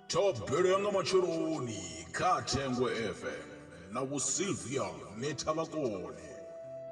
Thobelo ya nga matsheloni kha Thengwe FM na Vho Sylvia Nethavhakone.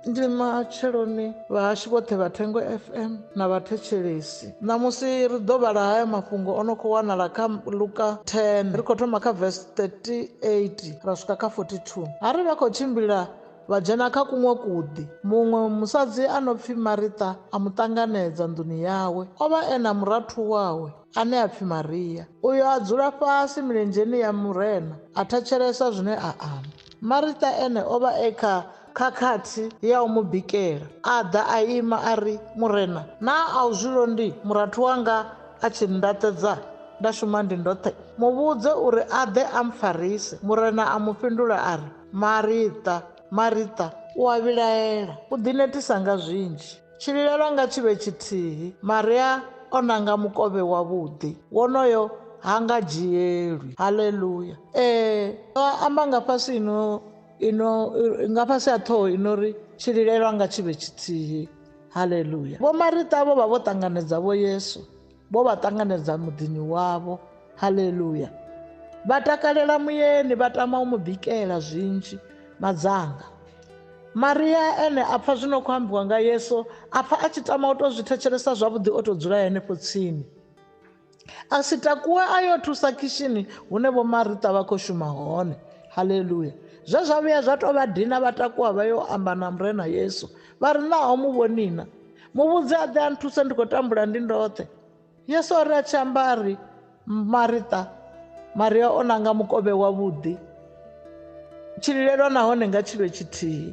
Ndi matsheloni vhahashu vhoṱhe vha Thengwe FM na vhathetshelesi. Ṋamusi ri ḓo vhala haya mafhungo o no khou wanala kha Luka 10, ri khou thoma kha vesi 38 ra swika kha 42. Ha ri vha khou tshimbila Vha dzhena kha kuṅwe kuḓi. Muṅwe musadzi a no pfi Marita a mu ṱanganedza nḓuni yawe. O vha e na murathu wawe ane a pfi Maria. Uyo a dzula fhasi milenzheni ya Murena a thetshelesa zwine a amba. Marita ene o vha e kha khakhathi ya u mu bikela. A ḓa a ima a ri, Murena, naa a u zwi londi murathu wanga a tshi nndaṱedza nda shuma ndi ndoṱhe? Mu vhudze uri a ḓe a mpfarise. Murena a mu fhindula a ri, Marita, Marita, u a vhilaela, u ḓinetisa nga zwinzhi. Tshililelwa nga tshi vhe tshithihi. Maria o nanga mukovhe wavhuḓi. Wonoyo ha nga dzhielwi. Haleluya! Ee, ndo amba nga fhasi ino, ino, nga fhasi ha ṱhoho ino ri, Tshililelwa nga tshi vhe tshithihi. Haleluya! Vho Marita vho vha vho ṱanganedza Vho Yesu. vho vha ṱanganedza muḓini wavho haleluya vha takalela muyeni vha tama u mu bikela zwinzhi madzanga maria ene a pfha zwino khou ambiwa nga yesu a pfha a tshi tama u tou zwi thetshelesa zwavhuḓi o tou dzula henefho tsini a si takuwe a yo thusa khishini hune vho marita vha khou shuma hone haleluya zwe zwa vhuya zwa tou vha dina vha takuwa vha yo amba na murena yesu vha ri naho mu vhonina muvhudzi a ḓe a nthusa ndi khou tambula ndi ndoṱhe yesu a ri a tshi amba a ri marita maria o nanga mukovhe wavhuḓi tshililelwa nahone nga tshilwe tshithihi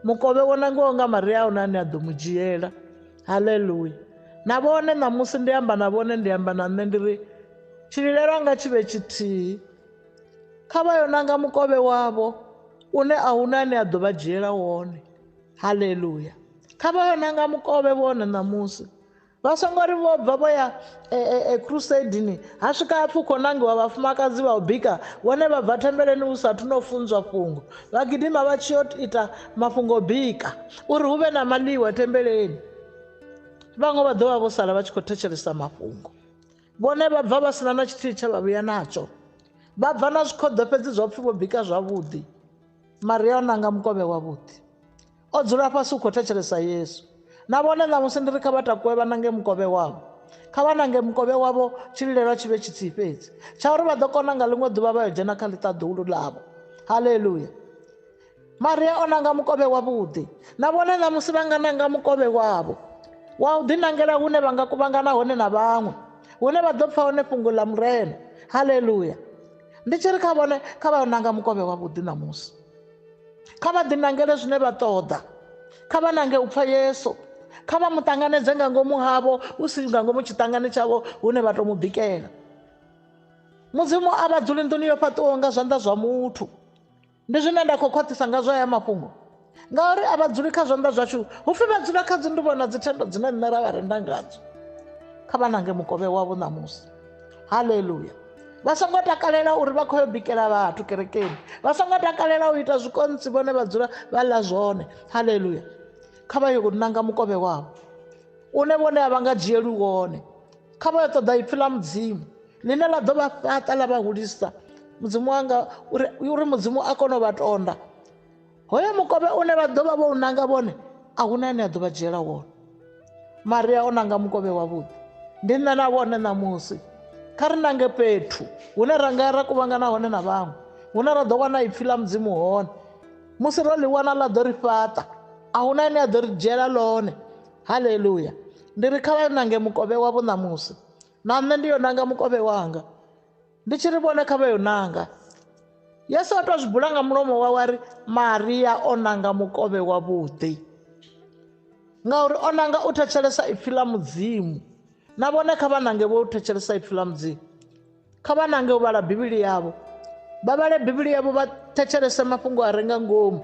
mukovhe wo nangiwaho nga maria a huna ane a ḓo mu dzhiela haleluya na vhone ṋamusi ndi amba na vhone ndi amba na nṋe ndi ri tshililelwa nga tshivhe tshithihi kha vha yo nanga mukovhe wavho une a huna ane a ḓo vha dzhiela wone haleluya kha vha yo nanga mukovhe vhone ṋamusi vha songo ri vho bva vho ya e, e, e, crusadini ha swika hapfi u khou nangiwa vhafumakadzi vha u bika vhone vha bva thembeleni hu sathu no funzwa fhungo vha gidima vha tshi yo ita mafhungo bika uri hu vhe na maḽiwa thembeleni vhaṅwe vha ḓo vha vho sala vha tshi khou thetshelesa mafhungo vhone vha bva vha sina na tshithihi tsha vha vhuya natsho vha bva na zwikhoḓo fhedzi zwa pfhi vho bika zwavhuḓi maria o nanga mukovhe wavhuḓi O dzula fhasi u khou thetshelesa Yesu. Na vhone ṋamusi ndi ri kha vha takuwe vha nange mukovhe wavho. Kha vha nange mukovhe wavho tshililelwa tshi vhe tshithihi fhedzi, tsha uri vha ḓo kona nga ḽiṅwe ḓuvha vha yo dzhena kha ḽiṱaḓulu ḽavho. Haleluya! Maria o nanga mukovhe wavhuḓi. Na vhone ṋamusi vha nga nanga mukovhe wavho wa u ḓinangela hune vha nga kuvhangana hone na vhaṅwe, hune vha ḓo pfa hone fhungo ḽa Murena. Haleluya! Ndi tshi ri kha vhone, kha vha yo nanga mukovhe wavhuḓi ṋamusi. kha vha ḓinangele zwine vha ṱoḓa kha vha nange u pfha yesu kha vha mu ṱanganedze nga ngomu havho hu si nga ngomu tshiṱangani tshavho hune vha tou mu bikela mudzimu a vha dzuli nḓuni yo fhaṱiwaho nga zwanḓa zwa muthu ndi zwine nda khou khwaṱhisa nga zwa ya mafhungo ngauri a vha dzuli kha zwanḓa zwashu hu pfhi vha dzula kha dzi nduvho na dzithendo dzine nṋe ra vha renda ngadzo kha vha nange mukovhe wavho ṋamusi haleluya vha songo takalela uri vha khou yo bikela vhathu kerekeni vha songo takalela u ita zwikontsi vhone vha dzula vha ḽa zwone haleluya kha vha yo ṋanga mukovhe wavho une vhone a vha nga dzhieli wone kha vha yo ṱoḓa ipfhi ḽa mudzimu ḽine ḽa ḓo vha fhaṱa ḽa vha hulisa mudzimu wanga uri mudzimu a kone u vha tonda Hoyo mukovhe une vha ḓo vha vho u nanga vhone a hu na ane a ḓo vha dzhiela wone maria o nanga mukovhe wavhuḓi ndi nṋe na vhone ṋamusi kha ri nange fhethu hune ra nga ya ra kuvhangana hone na vhaṅwe hune ra ḓo wana ipfhi ḽa mudzimu hone musi ro ḽi wana ḽa ḓo ri fhaṱa a hu na ane a ḓo ri dzhiela ḽone haleluya ndi ri kha vha nange mukovhe wavho ṋamusi na nṋe ndi yo nanga mukovhe wanga Ndi tshi ri vhone kha vha yo nanga. Yesu o tou zwi bula nga mulomo wawe a ri Maria o nanga mukovhe wavhuḓi ngauri o nanga u thetshelesa ipfi ḽa mudzimu na vhone kha vha nange vho thetshelesa ipfi ḽa mudzimu kha vha nange u vhala bivhili yavho vha vhale bivhili yavho vha thetshelese mafhungo a re nga ngomu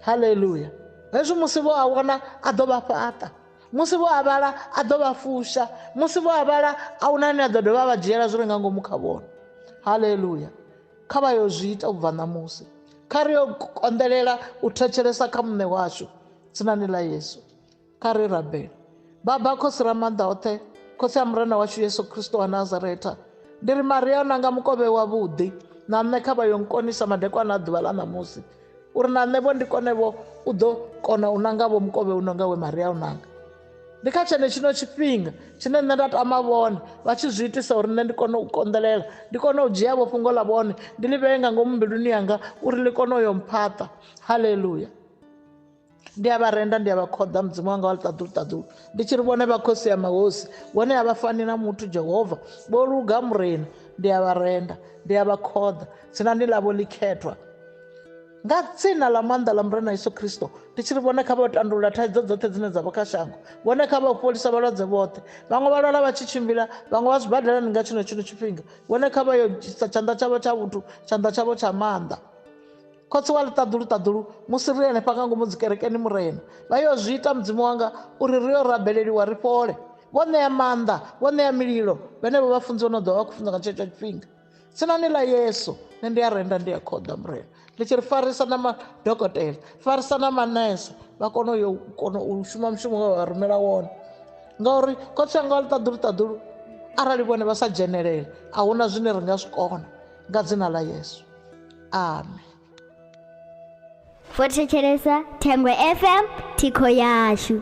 haleluya hezwi musi vho a wana a ḓo vha fhaṱa musi vho avhala a ḓo vha fusha musi vho avhala a hu na ane a ḓo dovha vha dzhiela zwi re nga ngomu kha vhona haleluya kha vha yo zwi ita u bva ṋamusi kha ri yo konḓelela u thetshelesa kha muṋe washu tsinani ḽa yesu kha ri rabele baba khosi ra maanḓa oṱhe khosi a murena washu yesu kristo wa nazaretha ndi ri maria o nanga mukovhe wavhuḓi na nṋe kha vha yo nkonisa madekwana a ḓuvha ḽa ṋamusi uri na nṋevho ndi konevho u ḓo kona u nangavho mukovhe uno nga we maria u nanga ndi kha tshene tshino tshifhinga tshine nṋe nda tama vhone vha tshi zwi itisa uri nṋe ndi kone u konḓelela ndi kone u dzhiavho fhungo ḽa vhone ndi ḽi vhee nga ngomu mbiluni yanga uri ḽi kone u yo mphaṱa haleluya ndi a vha renda ndi a vha khoḓa mudzimu wanga wa ḽiṱaḓulu ṱaḓulu ndi tshi ri vhone vha khosi ya mahosi vhone a vha fani na muthu jehova vho luga murena ndi a vha renda ndi a vha khoḓa tsinani ḽavho ḽikhethwa nga dzina ḽa maanḓa ḽa murena yesu kristo ndi tshi ri vhone kha vha tandulula thaidzo dzoṱhe dzine dza vha kha shango vhone kha vha fholisa vhalwadze vhoṱhe vhaṅwe vha lwala vha tshi tshimbila vhaṅwe vha zwibadalani nga tshino tshino tshifhinga vhone kha vha yo tshanḓa tshavho tsha vhuthu tshanḓa tshavho tsha maanḓa khotsi wa ḽiṱaḓulu ṱaḓulu musi ri henefha nga ngomu dzikerekeni murena vha yo zwi ita mudzimu wanga uri ri yo rabeleliwa ri fhole vho ṋea maanḓa vho ṋea mililo vhenevho vha funziwa no ḓovha vha khou funza nga tshetsho tshifhinga tsinani ḽa yesu nṋe ndi a renda ndi a khoḓa murena ḽi tshi ri farisa na madokotela farisa na manese vha kone uyo kona u shuma mushumo wa vha rumela wone ngauri khotsi anga wa ḽiṱaḓulu ṱaḓulu arali vhone vha sa dzhenelele a huna zwine ri nga zwi kona nga dzina ḽa yesu amen vho thetshelesa thengwe fm thikho yashu